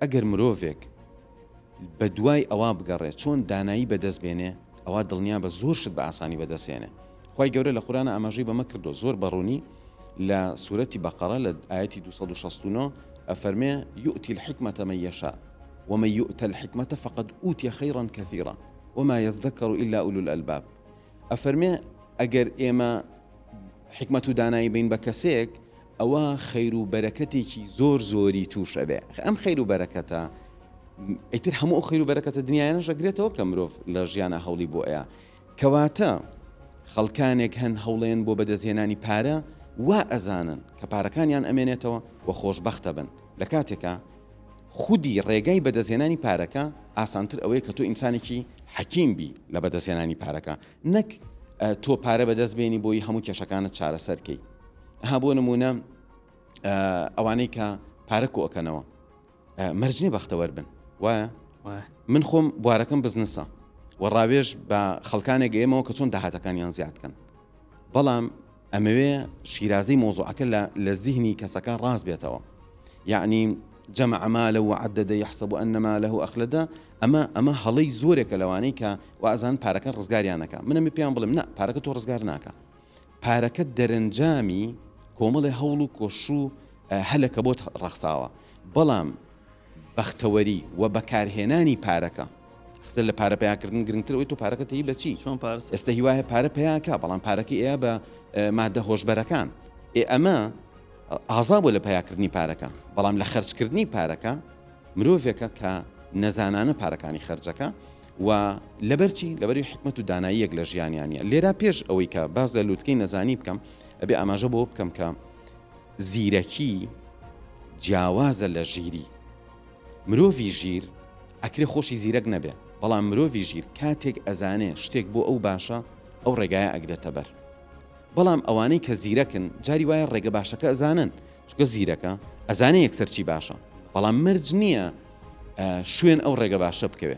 ئەگەر مرۆڤێک بە دوای ئەوە بگەڕێ چۆن دانایی بەدەست بێنێ ئەوا دڵنیابە زۆر شت بە ئاسانی بەدەست هێنێ خوای گەورە لە قورئانا ئاماژەی بەمە کردوە زۆر بە ڕوونی لە سورەتی بەقەڕە لە ئایەتی 269 ئەفەرمێ یوتی الحکمەتە من یشاء ومن یوتە الحکمەتە فقد اوتی خیرا کثیرا وما یذکر الا اولو الالباب ئەفەرمێ ئەگەر ئێمە حیکمەت و دانایی بین بە کەسێک ئەوا خەیر و بەرەکەتێکی زۆر زۆری توش ئەبێ ئەم خەیر و بەرەکەتە ئیتر هەموو ئەو خەیر و بەرەکەتە دنیایانە ژەگرێتەوە کە مرۆڤ لە ژیانە هەوڵی بۆ ئەیە کەواتە خەڵکانێک هەن هەوڵێن بۆ بەدەستهێنانی پارە وا ئەزانن کە پارەکانیان ئەمێنێتەوە و خۆشببختە بن لە کاتێکە خودی ڕێگای بەدەستێنانی پارەکە ئاسانتر ئەوەیە کە تۆ ئینسانێکی حەکیم بی لە بەدەستێنانی پارەکە نەک تۆ پارە بەدەست بێنی بۆی هەموو کێشەکانت چارەسەر کەیت ها بۆ نمونە ئەوانەی کە پارە کۆکەنەوە مەرجنی بەختەوەەر بن وایە من خۆم بوارەکەم بزنسە و ڕاوێژ بە خەڵکانێک گەێمەوە کە چۆن داهاتەکانیان زیادکەن بەڵام ئەمەوێ شیرازەی مەوزوعەکە لە لە زیهنی کەسەکە ڕاست بێتەوە یعنی جەمع مالە و عددە یحسب أن ماله أخلدە ئەمە ئەمە هەڵەی زۆرێکە لەوانەی کە وازان پارەکە ڕزگاریانەکە منەمی پێیان بڵێم نە پارەکە تۆ ڕزگار ناکە پارەکە دەرەنجامی کۆمەڵی هەوڵ و کۆش و هەلەکە بۆت ڕەخساوە بەڵام بەختەوەری و بەکارهێنانی پارەکە. قسە لە پارە پەیا کردن گرنگترە ئەوەی تۆ پارەکە تەیی بە چی چۆن پارە سەرف ئێستا هیوایە پارە پەیا کا بەڵام پارەکەی ئەیا بە مادە هۆشبەرەکان ئێ ئەمە ئازا بۆ لە پەیاکردنی پارەکە بەڵام لە خەرجکردنی پارەکە مرۆڤێکە کە نەزانانە پارەکانی خەرجەکە و لەبەرچی لەبەری حکمت و داناییەک لە ژیانیانە لێرا پێش ئەوەی کە باز لە لووتکەی نەزانی بکەم ئەبێ ئاماژە بۆ بکەم کە زیرەکی جیاوازە لە ژیری. مرۆڤی ژیر ئەکرێ خۆشی زیرەک نەبێ بەڵام مرۆڤی ژیر کاتێک ئەزانێ شتێک بۆ ئەو باشە ئەو ڕێگایە ئەگرێتە بەر بەڵام ئەوانەی کە زیرەکن جاری وایە ڕێگە باشەکە ئەزانن چکە زیرەکە ئەزانێ یەکسەر چی باشە بەڵام مەرج نییە شوێن ئەو ڕێگە باشە بکەوێ